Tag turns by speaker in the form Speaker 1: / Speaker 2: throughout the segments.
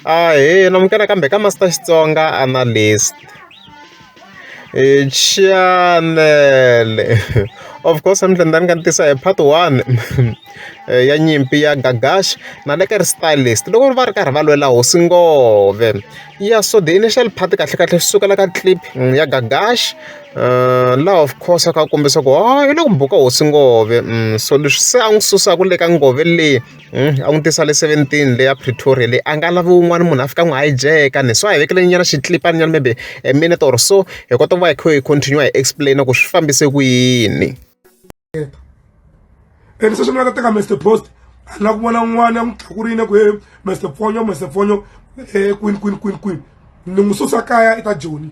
Speaker 1: Ahee namukela kambe ka Master Xitsonga Analyst. Chanele of course namuntlha ni ta ni ka ni tisa hi part one ya nyimpi ya Gagash na le ka ri stylist loko va ri karhi va lwela hosi ngove ya so the initial part kahle kahle swi sukela ka clip ya Gagash laha of course a kha a kombisa ku ha yi le ku buka hosi ngove so leswi se a n'wi susaka le ka ngove leyi. a n'wi tisa le seventeen le ya Pretoria leyi a nga lavi un'wana munhu a fika a n'wi hijack-a ni so a hi vekelenyana xikilipana maybe a minute or so hi kota ku va hi kha hi continue-a hi explain-a ku swi fambise ku yini. And
Speaker 2: sweswi mi nga ta teka Mister Post a ni lava ku vona n'wana ya n'wi tlakurile ku he Mister Fonyo Mister Fonyo eh, kwini kwini kwini kwini ni n'wi susa kaya eka Joni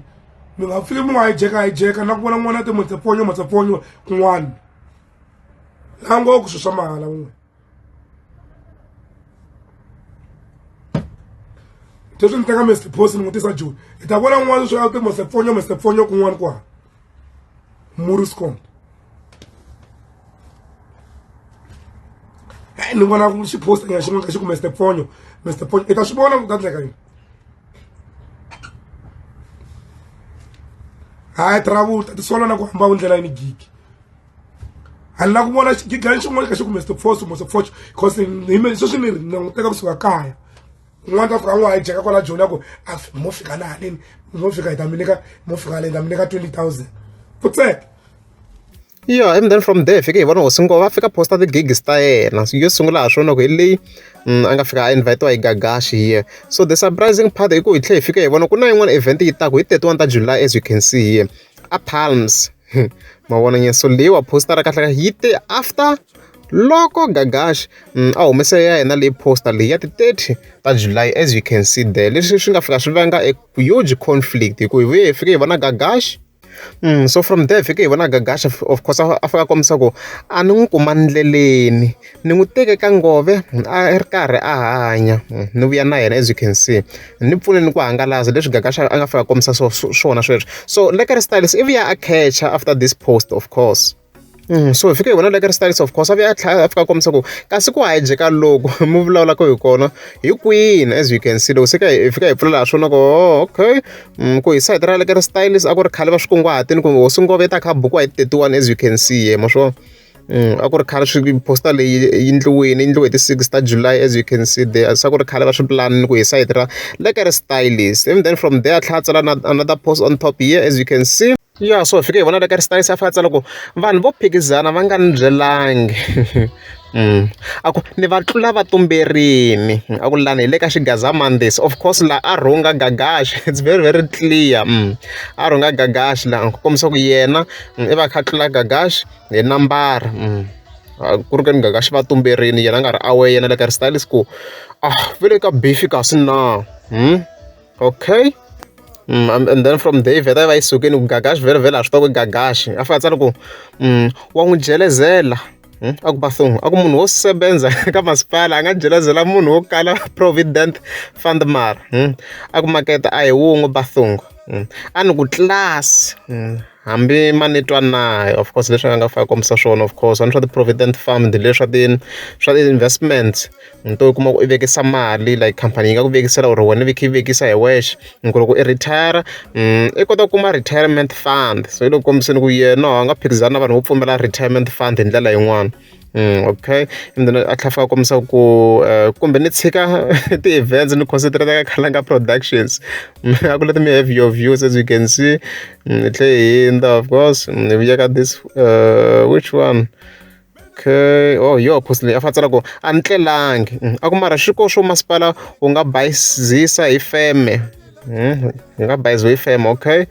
Speaker 2: mi nga fiki mi n'wi hijack-a hijack-a na ku vona n'wana ya ti Mister Fonyo Mister Fonyo kun'wana la ngo ku swilo swa mahala un'we sweswi ni teka mr post ni n'wi tisa joni hi ta vona n'wana swi a ti mr pfonyo mr pfonyo kun'wana kwala muriscom e ni vona xi posta nyana xin'wana ka xi ku mr pfonyo mr pfonyo i ta swi vona ku ta endleka yini hayi travel ta tisola na ku hamba ndlela yini gigi a ni la ku vona xigigani xin'wana ka xi kumbe stopfoso mosopfoxo because hime sweswi ni ri ni languteka kusuka kaya un'wana ta fika a n'wi hijeka kwala joni ya ku a mo fika na haleni mo fika hi ta mi nyika mo fika haleni ta mi nyika twenty thousand putseka
Speaker 1: yeah and then from there fike hi vona hosi ngova a fika posta ti-gigs ta yena yo sungula ha swona ku hi leyi mm, a nga fika a invitiwa hi gagashi here so the surprising part i ku hi tlhe hi fike hi vona ku na yin'wana event yi taku hi 31 ta july as you can see here a palms mavona nyeso leyiwa postara kahle kahle yi te after loko gagash mm, a humese ya yena leyi poster leyi ya ti-30 ta july as you can see there leswi swi nga fika swi vanga a huge conflict hikuva hi vuye hi fike hi vona gagash Mm, so from there fike hi vona gagash of course a fika kombisa ku a ni n'wi kuma ndleleni ni n'wi teke ka nghohe a ri karhi a hanya ni vuya na yena as you can see ni pfune ni ku hangalasa leswi gaga xa a nga fika a kombisa swo swona sweswo so lekker stylies i vuya a catcher after this post of course mm, so hi fike hi vona lekker stylies of course a vuya a tlhela a fika a kombisa ku kasi ku hajeka loko mi vulavulaka hi kona hi kwini as you can see loko se ka hi fika hi pfulela ha swona ku oh, okay mm, ku hi sayiti ra lekker stylies a ku ri khale va swi kunguhatini kumbe hosi ngove ta kha buku wa hi ti-thirty one as you can see ye ma swona a ku ri khale swi poster leyi yi endliwile yi endliwe hi ti-six ta July as you can see there se a ku ri khale va swi pulani ni ku hi sayiti ra le ka ri stylist ivi then from there a tlhela a tsala na another post on top here as you can see ya so hi fike hi vona le ka ri stylist a fika a tsala ku vanhu vo phikizana va nga ni byelangi Mm. a ku ni va tlula va tumberini a ku lani hi le ka xigaza mondays of course laha a rhunga gagaxi it's very very clear mm. a rhunga gagaxi laha ku kombisa ku yena mm, i va kha tlula gagaxi hi nambara ku ri ka ni nga ka xi va tumberini yena a nga ri aware yena le ka ri stylist ku a va le ka beef-i kasi na okay and then from there yi vheta yi va yi sukile ku gagaxi vhelavhela a swi tiva ku gagaxi a fanele a tsala ku wa n'wi jelezela a ku bathong a ku munhu wo sebenza ka masipala a nga jelezela munhu wo kala provident fund mara a ku makete a hi wun'we bathong. a ni ku class hambi ma ni twa na of course leswi a nga fane a kombisa swona of course a ni swa ti-provident fund le swa ti swa ti-investment ni to kuma ku i vekisa mali like khampani yi nga ku vekisela or wena i kha i vekisa hi wexe hi ku loko i retire i kota ku kuma retirement fund se yi le ku kombiseni ku yena a nga phikizani na vanhu vo pfumela retirement fund hi ndlela yin'wani. Okay and then a tlhela a kombisa ku kumbe ni tshika ti-events ni concentrate ka Khalanga productions a ku let me have your views as you can see ni tlhe hi hindza of course ni vuya ka this uh, which one okay oh yo post leyi a fa tsala ku a ni tlelangi mm, a ku mara xiko xo masipala wu nga bayizisa hi feme mm, hi nga bayizisa hi feme okay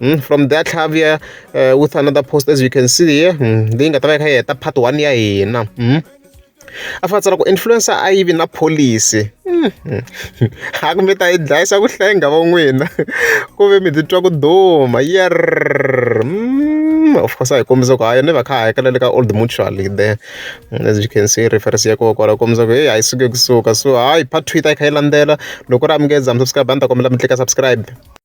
Speaker 1: Mm, from there Xavier uh, with another post as you can see here mm, leyi nga ta va yi kha yi heta part one ya hina mm. a fa tsala ku influencer a yi vi na policy mm. a kumbe ta yi dlayisa ku hlenga va n'wina ku ve mi titwa ku duma yer mm. of course a hi kombisa ku hayo ni va kha hakela le ka old mutual there mm, as you can see reference ya koho kwala kombisa ku heyi a yi suke kusuka so hayi part two yi ta yi kha yi landzela loko ri amukeza mi subscribe a ni ta kombela mi tlika subscribe